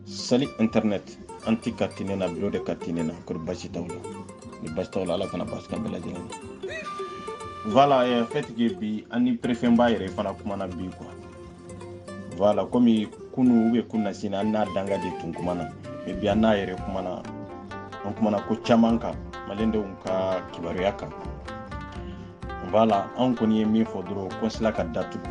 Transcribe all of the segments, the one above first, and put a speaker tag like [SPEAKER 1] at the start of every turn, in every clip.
[SPEAKER 1] sali internet an ti ka tine na bureau de ka tine na kori basi t'aw la ni basi t'aw la ala kana basi k'an bɛɛ lajɛlen voilà eh, fait que bi an ni préfet ba yɛrɛ fana kumana bi quoi voilà komi kunu ou bien kunasini an n'a dankan de tun kumana mais bi an n'a yɛrɛ kumana an kumana ko caman kan malidenw ka kibaruya kan voilà an kɔni ye min fɔ dɔrɔn kɔnsila ka datugu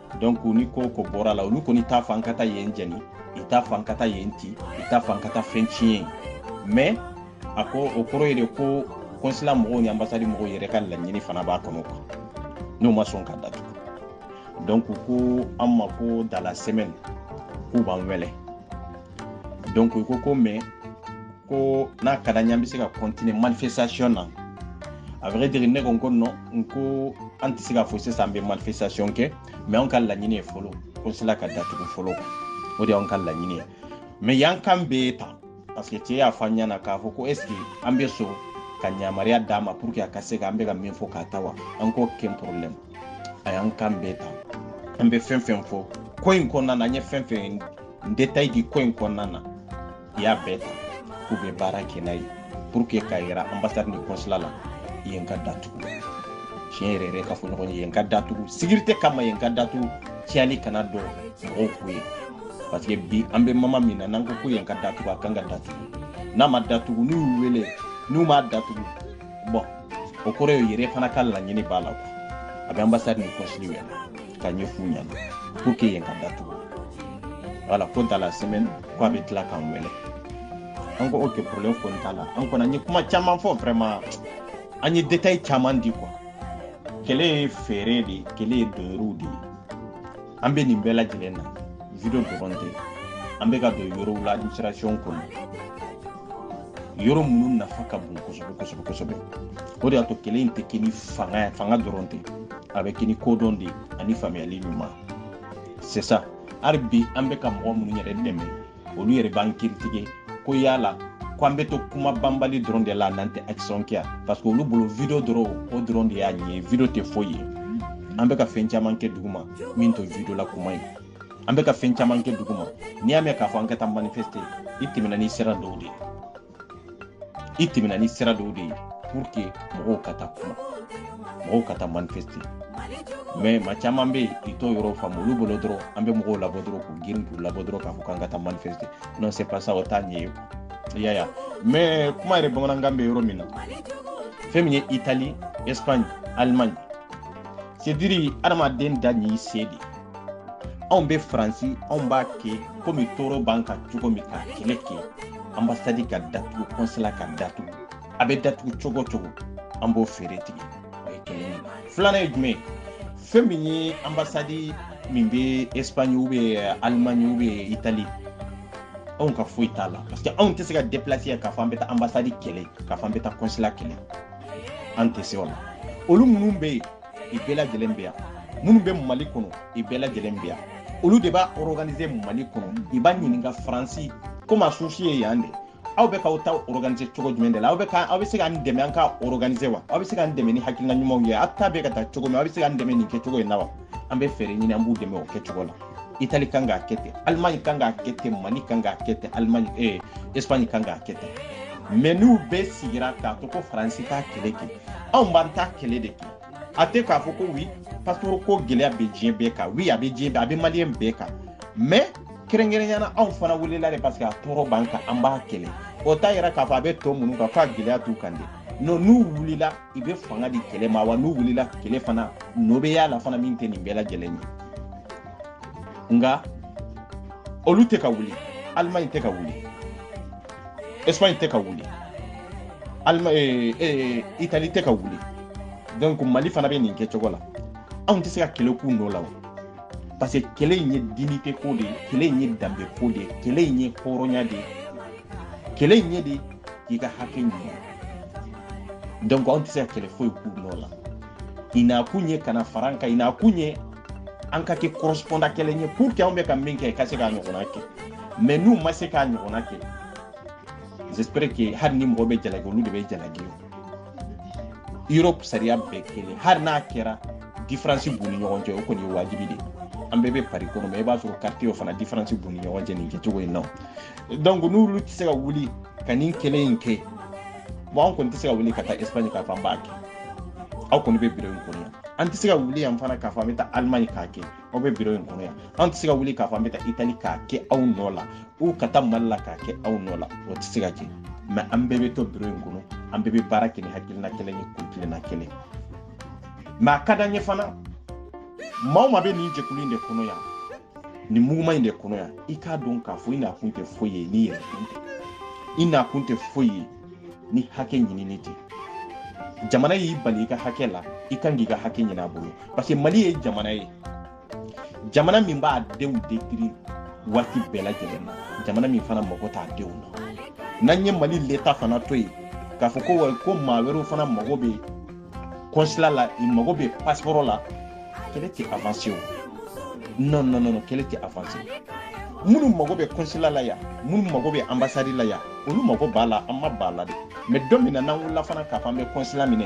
[SPEAKER 1] donc ni ko bɔr'a la olu kɔni t'a f'an ka taa yen jɛni i t'a f'an ka taa yen ti i t'a f'an ka taa fɛn tiɲɛ yen mais a ko o kɔrɔ ye de ko kɔnsila mɔgɔw ni anbasadi mɔgɔw yɛrɛ ka laɲini fana b'a kɔnɔ quoi n'u ma sɔn ka datugu donc ko an ma ko dans la semaine k'u b'an wele donc i ko ko mais ko n'a ka d'an ye an bɛ se ka continuer manifestation na à vrai dire ne ko n ko non n ko an tɛ se ka fɔ sisan an bɛ manifestation kɛ mais anw ka laɲini ye fɔlɔ konsila ka datugu fɔlɔ o de y'anw ka laɲini ye mais y'an kan bɛɛ ta parce que cɛ y'a fɔ an ɲɛna k'a fɔ ko est ce que an bɛ sɔn ka yamaruya d'a ma pour que a ka se ka an bɛ ka min fɔ k'a ta wa an ko aucun problème a y'an kan bɛɛ ta an bɛ fɛn fɛn fɔ ko in kɔnɔna na an ye fɛn fɛn détail di ko in kɔnɔna na a y'a bɛɛ ta k'u bɛ baara kɛ n'a ye pour que k'a yira ambasade ni consulat la yen ka datugu tiɲɛ yɛrɛ yɛrɛ ka fɔ ɲɔgɔn ye yen ka datugu sécurité kama yen ka datugu tiɲɛli kana don mɔgɔw ko ye parce que bi an bɛ moment min na n'an ko ko yen ka datugu a kan ka datugu n'a ma datugu n'u y'u wele n'u m'a datugu bon o kɔrɔ ye yɛrɛ fana ka laɲini b'a la a bɛ ambasade ni consulat wele ka ɲɛf'u ɲɛna pour que yen ka datugu voilà ko dans la semaine ko a bɛ tila k'an wele an ko aucun problème kɔni t'a la an kɔni an ye kuma caman fɔ vraiment an ye détail caman di quoi kɛlɛ ye feere de ye kɛlɛ ye donyɔrɔw de ye an bɛ nin bɛɛ lajɛlen na video dɔrɔn tɛ an bɛ ka don yɔrɔw la administration kɔnɔ yɔrɔ minnu nafa ka bon kosɛbɛ kosɛbɛ kosɛbɛ o de y'a to kɛlɛ in tɛ kɛ ni fanga ye fanga dɔrɔn tɛ a bɛ kɛ ni kodɔn de ani faamuyali ɲuman c'est ça hali bi an bɛ ka mɔgɔ minnu yɛrɛ dɛmɛ olu yɛrɛ b'an critiquer ko yala ko an bɛ to kuma banbali dɔrɔn de la n'an tɛ action kɛ parce que olu bolo video dɔrɔn o dɔrɔn de y'a ɲɛ video tɛ foyi ye an bɛ ka fɛn caman kɛ duguma min t'o video la kuma ye an bɛ ka fɛn caman kɛ duguma n'i y'a mɛn k'a fɔ an ka taa manifeste i tɛmɛna ni sira dɔw de ye i tɛmɛna ni sira dɔw de ye pour que mɔgɔw ka taa manifeste mais maa caman bɛ yen i t'o yɔrɔ faamu olu bolo dɔrɔn an bɛ mɔgɔw labɔ dɔrɔn k'u girin k'u labɔ dɔrɔn k'a fɔ k'an ka taa manifeste non c'est pas ça o t'a ɲɛ ye i y'a ye mais kuma yɛrɛ b'an kan na k'an bɛ yɔrɔ min na fɛn min ye italie espagne allemagne c'est dire adamaden da n'i se de anw bɛ faransi anw b'a kɛ komi tɔɔrɔ b'an kan cogo min ka kɛlɛ kɛ anbasadi ka datugu kɔnsila ka datugu a bɛ datugu cogo cogo an b'o fɛɛrɛ tigɛ o ye kelen ye filanan ye jumɛn ye fɛn min ye anbasadi min bɛ espagne ou bien allemagne ou bien italie anw ka foyi t'a la parce que anw tɛ se ka déplacer yan k'a fɔ an bɛ taa anbasadi kɛlɛ k'a fɔ an bɛ taa kɔnsila kɛlɛ an tɛ se o la olu minnu bɛ yen i bɛɛ lajɛlen bɛ yan minnu bɛ mali kɔnɔ i bɛɛ lajɛlen bɛ yan olu de b'a organiser mali kɔnɔ i b'a ɲininka faransi komi a source ye yan de aw bɛ k'aw ta organiser cogo jumɛn de la aw bɛ ka aw bɛ se k'an dɛmɛ an ka organiser wa aw bɛ se k'an dɛmɛ ni hakilina ɲumanw ye aw ta bɛ ka taa cogo min aw bɛ se k'an dɛmɛ nin kɛcogo in na wa an bɛ fɛɛrɛ ɲini an b'u dɛmɛ o kɛcogo la itali kan k'a kɛ ten alimaɲi kan k'a kɛ ten mali kan k'a kɛ ten alimaɲi ee espaɲi kan k'a kɛ ten mɛ n'u bɛɛ sigira k'a to ko faransi k'a kɛlɛ kɛ anw b'an ta kɛlɛ de kɛ a tɛ k'a fɔ ko wi pasiporo ko gɛlɛya bɛ diɲɛ bɛɛ kan wi a bɛ diɲɛ bɛɛ a bɛ maliyɛn bɛɛ kan mɛ kɛrɛnkɛrɛnnenya na anw fana wulila de paseke a tɔɔrɔ b'an kan an b'a kɛlɛ o t'a yira k'a fɔ a bɛ tɔ minnu kan f'a gɛlɛya t'u kan de no n'u wulila i bɛ fanga di kɛlɛ ma wa n'u wulila kɛlɛ fana nɔ bɛ y'a la fana min tɛ nin bɛɛ lajɛlen ye nka olu tɛ ka wuli alimaɲi tɛ ka wuli Espagne tɛ ka wuli Alma eh, eh, Italie tɛ ka wuli donc Mali fana bɛ nin kɛ cogo la anw tɛ se ka kɛlɛ k'u nɔ la o parce que kɛlɛ in ye dignité ko de ye kɛlɛ in ye danbe ko de ye kɛlɛ in ye hɔrɔnya de ye kɛlɛ in ye de k'i ka hakɛ ɲini donc anw tɛ se ka kɛlɛ foyi k'u nɔ la i nakun ye ka na fara an kan i nakun ye an ka kɛ correspondant kelen ye pour que anw bɛ ka min kɛ i ka se k'a ɲɔgɔnna kɛ mais n'u ma se k'a ɲɔgɔnna kɛ j'espère que hali ni mɔgɔ bɛ jalaki olu de bɛ jalaki o europe sariya bɛɛ kelen hali n'a kɛra différence b'u ni ɲɔgɔn cɛ o kɔni ye wajibi de ye an bɛɛ bɛ pari kɔnɔ mɛ i b'a sɔrɔ quartierw fana différence b'u ni ɲɔgɔn cɛ nin kɛcogo in na donc n'olu tɛ se ka wuli ka nin kɛlɛ in kɛ bon an kɔni tɛ se ka wuli ka taa espagne k'a fɔ an b'a kɛ aw kɔni bɛ biro in kɔnɔ yan an tɛ se ka wuli yan fana k'a fɔ an bɛ taa alimaɲi k'a kɛ aw bɛ biro in kɔnɔ yan an tɛ se ka wuli k'a fɔ an bɛ taa itali k'a kɛ aw nɔ la ou ka taa mali la k'a kɛ aw nɔ la o tɛ se ka kɛ mɛ an bɛɛ bɛ to biro in kɔnɔ an bɛɛ bɛ baara kɛ ni hakilina kelen ye kuntilenna kelen mɛ a ka d'an ye fana maa o maa bɛ nin jɛkulu in de kɔnɔ yan nin mouvement in de kɔnɔ yan i k'a dɔn k'a fɔ i nakun tɛ foyi ye n'i yɛrɛ kun tɛ i nakun tɛ foyi ye ni hakɛ ɲinini tɛ jamana y'i bali i ka hakɛ la i kan k'i ka hakɛ ɲini a bolo parce que mali ye jamana ye jamana min b'a denw détruire waati bɛɛ lajɛlen na jamana min fana mago t'a denw na n'an ye mali leta fana to yen k'a fɔ ko ko maa wɛrɛw fana mago bɛ kɔnsila la i mago bɛ pasipɔrɔ la kɛlɛ tɛ avanse o non non non kɛlɛ tɛ avanse minnu mago bɛ kɔnsila la yan minnu mago bɛ anbasadi la yan olu mago b'a la an ma b'a la de mɛ don min na n'an wulila fana k'a fɔ an bɛ kɔnsila minɛ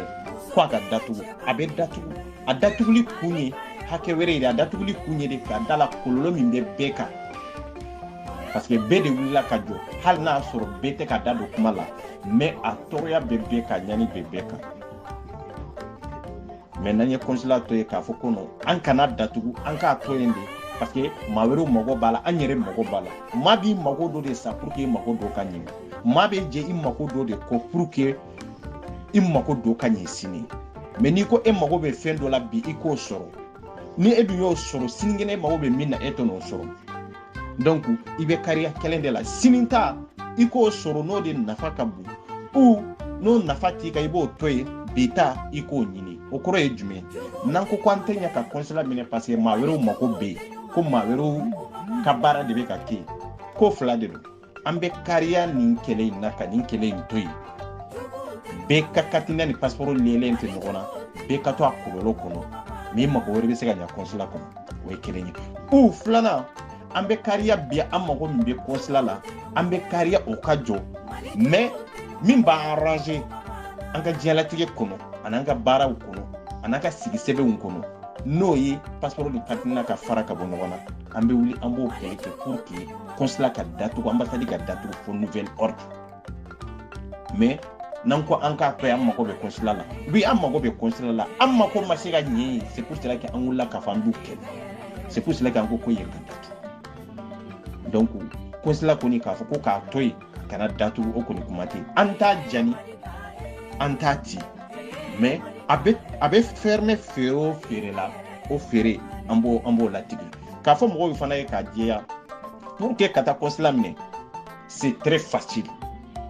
[SPEAKER 1] ko a ka datugu a bɛ datugu a datuguli kun ye hakɛ wɛrɛ ye de a datuguli kun ye de ka da la kɔlɔlɔ min bɛ bɛɛ kan parce que bɛɛ de wulila ka jɔ hali n'a y'a sɔrɔ bɛɛ tɛ ka da don kuma la mɛ a tɔɔrɔya bɛ bɛɛ kan ɲani bɛ bɛɛ kan mɛ n'an ye kɔnsila to yen k'a fɔ ko non an kana datugu an k'a to yen de parce que maa wɛrɛw mago b'a la an yɛrɛ mago b'a la maa b'i mago dɔ de sa pour que i mago dɔ ka ɲɛ maa bɛ jɛ i mago dɔ de kɔ pour que i mago dɔ ka ɲɛ sini mɛ n'i ko e mago bɛ fɛn dɔ la bi i k'o sɔrɔ ni e dun y'o sɔrɔ sinikɛnɛ e mago bɛ min na e tɛ n'o sɔrɔ donc i bɛ kariya kelen de la sini ta i k'o sɔrɔ n'o de nafa ka bon ou n'o nafa t'i kan i b'o to yen bi ta i k'o ɲini o kɔrɔ ye jumɛn n'an ko ko an tɛ ɲɛ ka kɔnsila minɛ parce que maa wɛrɛw mago bɛ yen ko maa wɛrɛw ka baara de bɛ ka kɛ yen ko fila de don an bɛ kariya nin kɛlɛ in na ka nin kɛlɛ in to yen bɛɛ ka katina ni pasiporo liélen tɛ ɲɔgɔn na bɛɛ ka to a kɔlɔlɔ kɔnɔ min mago wɛrɛ bɛ se ka ɲa kɔnsula kɔnɔ o ye kelen ye ou filanan an bɛ kariya bi an mago min bɛ kɔnsula la an bɛ kariya o ka jɔ mɛ min b'an arranger an ka diɲɛlatigɛ kɔnɔ an'an ka baaraw kɔnɔ an'an ka sigisɛbɛnw kɔnɔ n'o ye pasiporo ni katina ka fara ka bɔ ɲɔgɔn na an bɛ wuli an b'o kɛlɛ kɛ pour que kɔnsila ka datugu anbasadi ka datugu fo nouvel ordre mais n'an ko an k'a to an mago bɛ kɔnsila la bi an mago bɛ kɔnsila la an mago ma se ka ɲɛ yen c'est pour cela que an wulila k'a fɔ an b'u kɛlɛ c'est pour cela que an ko ko yen ka datugu donc kɔnsila kɔni k'a fɔ ko k'a to yen kana datugu o kɔni kuma tɛ yen an t'a jani an t'a ci mais a bɛ a bɛ fɛrɛmɛ feere o feere la o feere an b'o an b'o latigɛ k'a fɔ mɔgɔw fana ye k'a jɛya pour que ka taa kɔnsila minɛ c'est très facile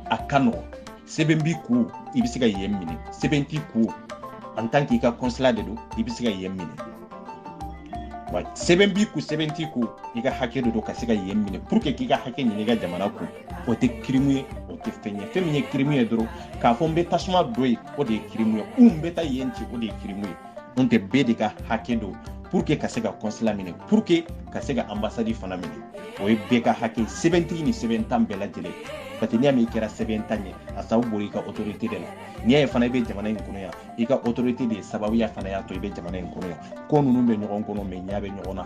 [SPEAKER 1] a ka nɔgɔn sɛbɛn b'i kun i bɛ se ka yen minɛ sɛbɛn t'i kun en tant que i ka kɔnsila de don i bɛ se ka yen minɛ wa sɛbɛn b'i kun sɛbɛn t'i kun i ka hakɛ de don ka se ka yen minɛ pour que k'i ka hakɛ ɲini i ka jamana kun o tɛ kirimu ye o tɛ fɛn ye fɛn min ye kirimu ye dɔrɔn k'a fɔ n bɛ tasuma don yen o de ye kirimu ye ou n bɛ taa yen ci o de ye kirimu ye n'o tɛ bɛɛ de ka hakɛ don pour que ka se ka kɔnsila minɛ pour que ka se ka anbasadi fana minɛ o ye bɛɛ ka hakɛ sɛbɛntigi ni sɛbɛntan bɛɛ lajɛlen parce que n'i y'a mɛn i kɛra sɛbɛntan ye a sababu bɔra i ka autorité de la n'i y'a ye fana i bɛ jamana in kɔnɔ yan i ka autorité de ye sababuya fana y'a to i bɛ jamana in kɔnɔ yan ko ninnu bɛ ɲɔgɔn kɔnɔ mɛ ɲɛ bɛ ɲɔgɔn na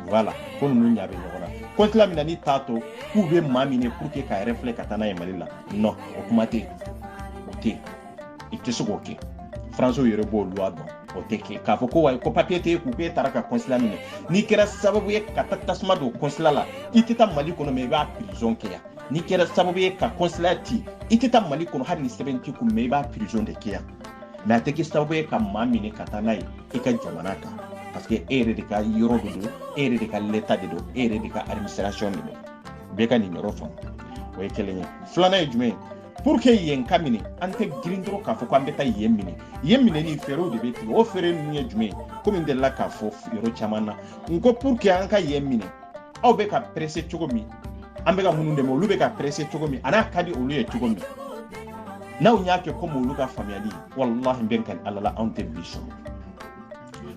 [SPEAKER 1] voilà ko ninnu ɲa bɛ ɲɔgɔn na kɔnsila minɛni t'a to k'u bɛ maa minɛ pour que k'a refouler ka taa n'a ye mali la non o kuma tɛ yen o tɛ yen i tɛ se k'o kɛ faransiw yɛrɛ b'o luwa dɔn o tɛ kɛ k'a fɔ ko wayi ko papiye t'e kun k'e taara ka kɔnsila minɛ n'i kɛra sababu ye ka taa tasuma don kɔnsila la i tɛ taa mali kɔnɔ mɛ i b'a pirizɔn kɛ yan n'i kɛra sababu ye ka kɔnsila ti i tɛ taa mali kɔnɔ hali ni sɛbɛn t'i kun mɛ i b'a pirizɔn de kɛ yan mɛ a tɛ kɛ sababu ye ka maa minɛ ka taa n'a ye i ka jamana kan parce que e yɛrɛ de ka yɔrɔ de don e yɛrɛ de ka leta de don e yɛrɛ de ka administration de don bɛɛ ka nin yɔrɔ faamu o ye kelen ye filanan ye jumɛn ye pour que yen ka minɛ an tɛ girin dɔrɔn k'a fɔ ko an bɛ taa yen minɛ yen minɛli fɛɛrɛw de bɛ tigɛ o fɛɛrɛ ninnu ye jumɛn ye komi n delila k'a fɔ yɔrɔ caman na n ko pour que an ka yen minɛ aw bɛ ka presse cogo min an bɛ ka minnu dɛmɛ olu bɛ ka presse cogo min an'a ka di olu ye cogo min n'aw y'a kɛ komi olu ka faamuyali walahi n bɛ n kali ala la anw tɛ bi sɔrɔ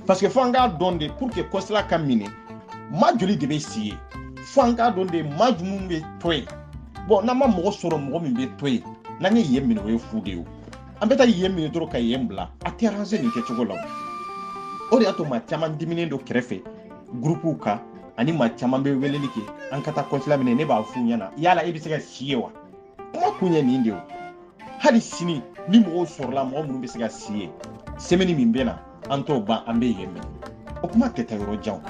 [SPEAKER 1] parce que fo an k'a dɔn de pour que kɔnsila ka minɛ maa joli de bɛ si yen fo an k'a dɔn de maa jumɛn bɛ to yen bɔn n'an ma mɔgɔ sɔrɔ mɔgɔ min bɛ to yen n'an ye yen minɛ o ye fu de ye an bɛ taa yen minɛ dɔrɔn ka yen bila a tɛ aranze nin kɛcogo la o de y'a to maa caman diminen don kɛrɛfɛ gurupuw kan ani maa caman bɛ weleli kɛ an ka taa kɔnsila minɛ ne b'a f'u ɲɛna yala e bɛ se ka si yen wa kuma kun ye nin de ye hali sini ni mɔgɔw sɔrɔla mɔgɔ minnu bɛ se ka si yen semɛni min bɛ na an t'o ban an bɛ yen minɛ o kuma tɛ taa yɔrɔ jan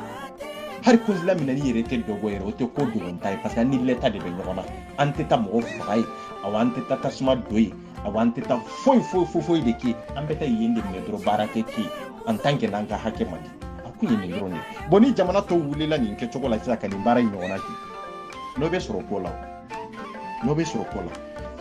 [SPEAKER 1] hali kɔnsila minɛli yɛrɛ tɛ dogo yɛrɛ o tɛ ko dogota ye parce que an ni leta de bɛ ɲɔgɔn na an tɛ taa mɔgɔ faga yen awa an tɛ taa tasuma don yen awa an tɛ taa foyi foyi foyi foyi de kɛ an bɛ taa yen de minɛ dɔrɔn baara tɛ kɛ en tant que n'an ka hakɛ ma di a kun ye nin dɔrɔn de ye bɔn ni jamana tɔw wulila nin kɛcogo la sisan ka nin baara in ɲɔgɔnna kɛ nɔ bɛ sɔrɔ ko la o nɔ bɛ sɔrɔ ko la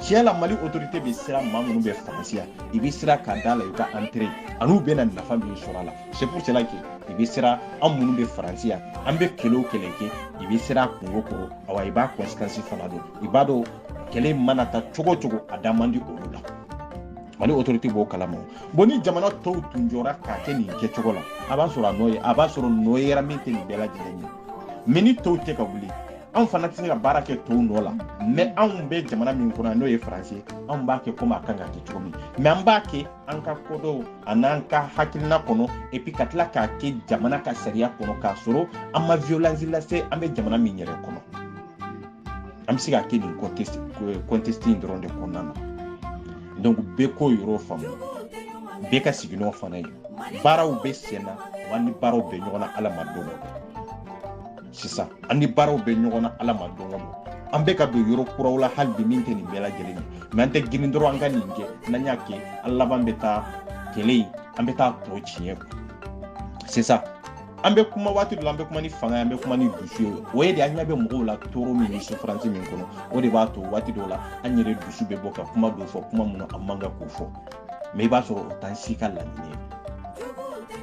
[SPEAKER 1] tiɲɛ la mali autorité bɛ siran maa minnu bɛ faransi yan i bɛ siran ka d'a la i ka intérêt an'u bɛna nafa min sɔrɔ a la c'est pour cela que i bɛ siran an minnu bɛ faransi yan an bɛ kɛlɛ o kɛlɛ kɛ i bɛ siran kunko kɔrɔ awa i b'a conséquence fana dɔn i b'a dɔn kɛlɛ mana taa cogo cogo a da man di olu la mali autorité b'o kalama bon ni jamana tɔw tun jɔra k'a kɛ nin kɛcogo la a b'a sɔrɔ a nɔ ye a b'a sɔrɔ nɔ yera min tɛ nin bɛɛ lajɛlen ye mɛ ni tɔw tɛ ka wuli anw fana tɛ se ka baara kɛ tɔw nɔ la mɛ anw bɛ jamana min kɔnɔ n'o ye faransi anw b'a kɛ komi a kan ka kɛ cogo min mɛ an b'a kɛ an ka kodɔn an'an ka hakilina kɔnɔ epi ka tila k'a kɛ jamana ka sariya kɔnɔ k'a sɔrɔ an ma violence lase an bɛ jamana min yɛrɛ kɔnɔ an bɛ se ka kɛ nin contexte in dɔrɔn de kɔnɔna na donc bɛɛ k'o yɔrɔ faamu bɛɛ ka sigi n'o fana ye baaraw bɛ sen na wa ni baaraw bɛ ɲɔgɔn na ala ma don dɔ sisan an ni baaraw bɛ ɲɔgɔn na ala ma don o don an bɛ ka don yɔrɔ kuraw la hali bi min tɛ nin bɛɛ lajɛlen ye mais an tɛ girin dɔrɔn an ka nin kɛ n'an y'a kɛ an laban bɛ taa kɛlɛ in an bɛ taa tɔ tiɲɛ sisan an bɛ kuma waati dɔ la an bɛ kuma ni fanga ye an bɛ kuma ni dusu ye o ye de an ɲɛ bɛ mɔgɔw la tɔɔrɔ min ni souffrance min kɔnɔ o de b'a to waati dɔw la an yɛrɛ dusu bɛ bɔ ka kuma dɔw fɔ kuma minnu an man kan k'o fɔ mais i b'a sɔrɔ o t'an si ka laɲini ye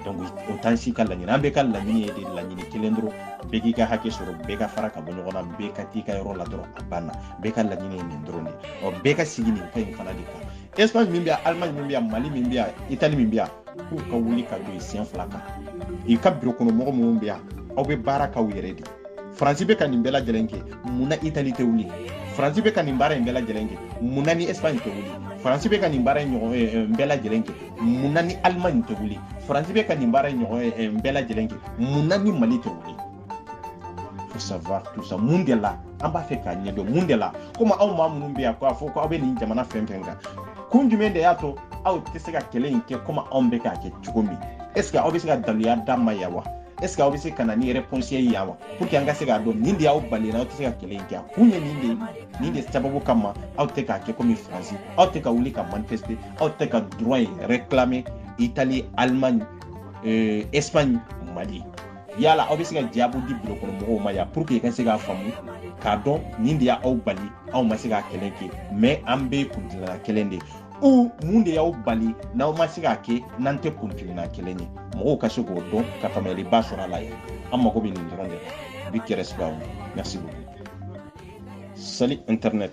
[SPEAKER 1] donc o t'an si ka laɲini an bɛɛ ka laɲini ye de laɲini kelen dɔrɔn bɛɛ k'i ka hakɛ sɔrɔ bɛɛ ka fara ka bɔ ɲɔgɔn na bɛɛ ka t'i ka yɔrɔ la dɔrɔn a banna bɛɛ ka laɲini ye nin dɔrɔn de ɔ bɛɛ ka sigi nin ka in fana de kan espagne min bɛ yan allemagne min bɛ yan mali min bɛ yan italie min bɛ yan k'u ka wuli ka jɔ i sen fila kan i ka biro kɔnɔ mɔgɔ minnu bɛ yan aw bɛ baara k'aw yɛrɛ de faransi bɛ ka nin bɛɛ lajɛlen kɛ mun na italie tɛ wuli faransi bɛ ka nin baara in bɛɛ lajɛlen kɛ mun na ni espagne tɛ wuli faransi bɛ ka nin baara in ɲɔgɔn eh, eh, bɛɛ lajɛlen kɛ mun na ni allemagne tɛ wuli faransi bɛ ka nin baara in ɲɔgɔn eh, bɛɛ lajɛlen kɛ mun na ni mali tɛ wuli faut savoir tout ça mun de la an b'a fɛ k'a ɲɛdɔn mun de la komi aw maa minnu bɛ yan k'a fɔ ko aw bɛ nin jamana fɛn fɛn kan kun jumɛn de y'a to aw tɛ se ka kɛlɛ in kɛ komi anw bɛ k'a kɛ cogo min est ce que aw bɛ se ka daluya d'an ma yan wa est ce que aw bɛ se ka na ni réponse ye yan wa pour que an ka se k'a dɔn nin de y'aw bali aw tɛ se ka kɛlɛ in kɛ a kun ye nin de ye nin de sababu kama aw tɛ k'a kɛ komi faransi aw tɛ ka wuli ka manifester aw tɛ ka droit in réclamer italie allemagne euh, espagne mali yala aw bɛ se ka jaabu di biro kɔnɔ mɔgɔw ma yan pour que i ka se k'a faamu k'a dɔn nin de y'aw bali aw ma se k'a kɛlɛ kɛ mais an bɛ kuntilenna kelen de ou mun de y'aw bali n'aw ma se k'a kɛ n'an tɛ kuntilenna kelen ye mɔgɔw ka se k'o dɔn ka faamuyaliba sɔrɔ a la ye an mago bɛ nin dɔrɔn de la big respect merci beaucoup salut internet